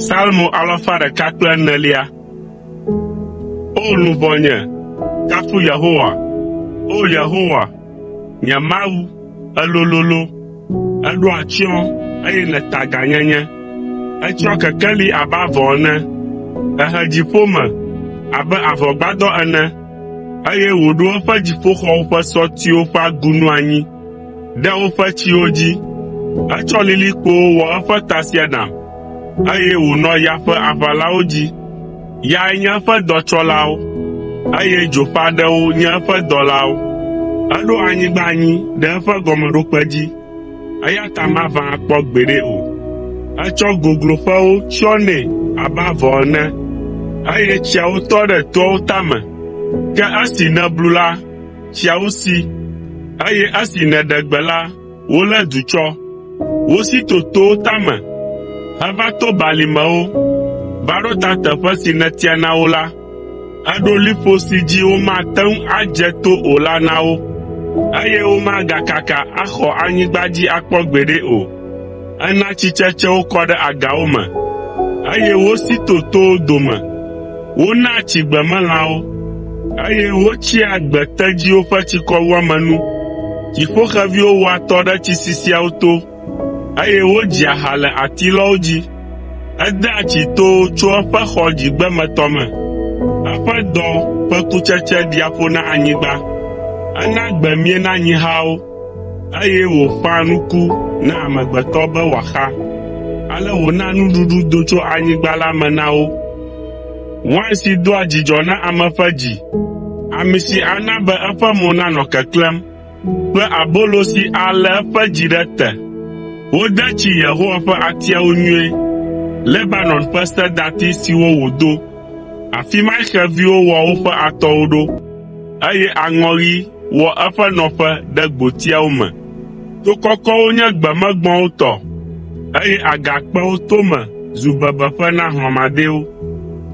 Salmo alafa ɖeka kple enelia. O luʋɔnye, kafu Yehowa. O Yehowa, nye Mawu, èlololo, èɖo atsyɔ̃, eye nèta gãnyenye. Ètsɔ kekeli abe avɔ ene, èhe dziƒo me abe avɔgbadɔ ene. Eye wòɖo eƒe dziƒoxɔwo ƒe sɔtiwo ƒe agunu anyi ɖe woƒe tsiwo dzi. Etsɔ lilikpowo wɔ eƒe tasiaɖam, eye wònɔ ya ƒe aʋalawo dzi. Yae nye eƒe dɔtsɔlawo, eye dzo ƒe aɖewo nye eƒe dɔlawo. Eɖo anyigba anyi ɖe eƒe gɔmeɖokpe dzi. eya ta maʋã akpɔ gbeɖe o. Etsɔ gogloƒewo tsyɔ nɛ abe avɔ ene, eye tsiawo tɔ ɖe toawo tame. Ke esi nèblu la, tsiawo si, eye esi nèɖe gbe la, wolé du tsɔ. Wosi to towo tame heva to balimewo va ɖo ta teƒe si nètia na wo la. aɖo liƒo si dzi womate ŋu adze to o la na wo, eye womagakaka axɔ anyigba dzi akpɔ gbeɖe o. Ena tsitsetsewo kɔ ɖe agawo me, eye wosi to towo dome. Wonaa tsi gbemelãwo, eye wotsia gbetedziwo ƒe tsikɔwuame nu. Dziƒoxeviwo wɔa atɔ ɖe tsi sisiawo to, eye wodzia ha le atilɔwo dzi. Edea tsi to tso eƒe xɔ dzigbemetɔ me, eƒe dɔ ƒe kutsetse ɖia ƒo na anyigba. Ena gbe mie na nyihawo, eye wòƒãa nuku na amegbetɔ be wòaxa. Ale wòna nuɖuɖu do tso anyigba la me na wo. Wain si doa dzidzɔ na ame ƒe dzi, ami si ana be eƒe mo nanɔ keklẽm. kple abolo si alé eƒe dzi ɖe te. Wode tsi Yehowa ƒe atiawo nyuie, Lebanon ƒe sedati siwo wòdo. Afi mae xeviwo wɔ woƒe atɔwo ɖo, eye aŋɔɣi wɔ eƒe nɔƒe ɖe gbotiawo me. To kɔkɔwo nye gbemegbɔ̃wo tɔ, eye agakpewo tome zu bebeƒe na hlɔ̃madɛwo.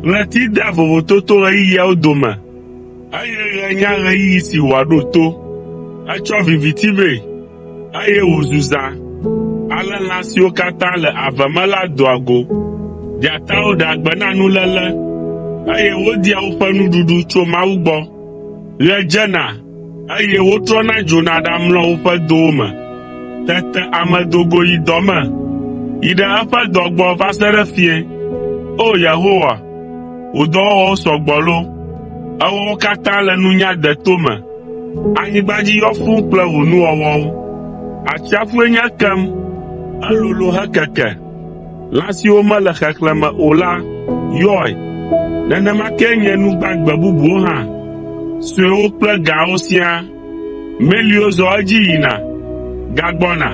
Ɣleti dea vovototoɣeyiɣiawo dome, Eye ɣe nya ɣeyiɣi si wòaɖo to. Etsɔ viviti vɛ, eye wòzu zã. Ale lã siwo katã le ave me la doa go. Dzatawo ɖea gbe na nuléle, eye wodia woƒe nuɖuɖu tso Mawu gbɔ. Ɣe dzena, eye wotrɔna dzona ɖamlɔa woƒe dowo me. Tete ame do go yi dɔ me, yi ɖe eƒe dɔ gbɔ va se ɖe fiẽ. O Yehowa, wò dɔwɔwɔwo sɔ gbɔ loo! Èwɔ wo katã le nunya deto me. Anyigba dzi yɔ fũu kple wò nuwɔwɔwo. Atsiaƒue nye ekem, elolo hekeke. Lã siwo mele xexlẽ me o la yɔe. Nenema kee nye nu gbagbe bubuwo hã, suewo kple gãwo siaa. Meliwo zɔa edzi yina, gagbɔna,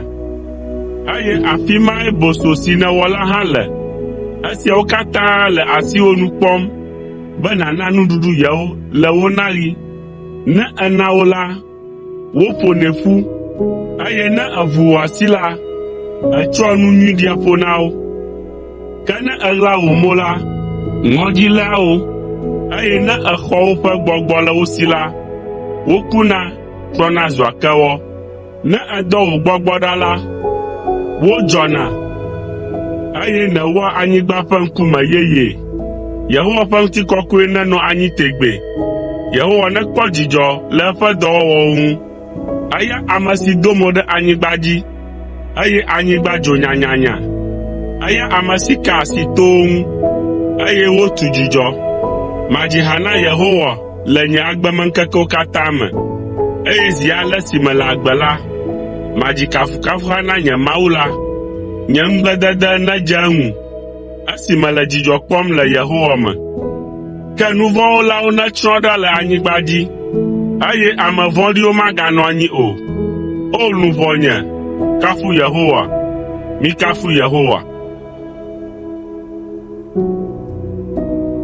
eye afi mae boso si nèwɔ la hã le. Esiawo katã le asiwò nu kpɔm be nàna nuɖuɖu yewo le wo naɣi. Ne èna wo la, Woƒonɛ ƒu, eye ne èvu wò asi la, ètsɔa nu nyui ɖia ƒo na wo. Ke ne èɣla wò mo la, ŋɔdzi léa wo, eye ne èxɔ woƒe gbɔgbɔ le wo si la, wokuna trɔna zua kewɔ. Ne èdɔ wò gbɔgbɔ ɖa la, wodzɔna, eye nèwɔa anyigba ƒe ŋkume yeyee. Yehowa ƒe ŋutikɔkɔe nenɔ anyi tegbee! Yehowa nekpɔ dzidzɔ le eƒe dɔwɔwɔwo ŋu! Eya ame si do mo ɖe anyigba dzi, eye anyigba dzo nyanyanya. Eya ame si ka asi towo ŋu, eye wotu dzudzɔ. Madzi ha na Yehowa le nye agbemeŋkekewo katã me, eye zi ale si mele agbe la, madzi kafukafuha na nye Mawu la. Nye ŋugbledede nedze eŋu. esi mele dzidzɔ kpɔm le Yehowa me. Ke nu vɔ̃ wɔlawo netsrɔ̃ ɖa le anyigba dzi, eye ame vɔ̃ɖiwo maganɔ anyi o. O! Luʋɔnye, kafu Yehowa. Mikafu Yehowa.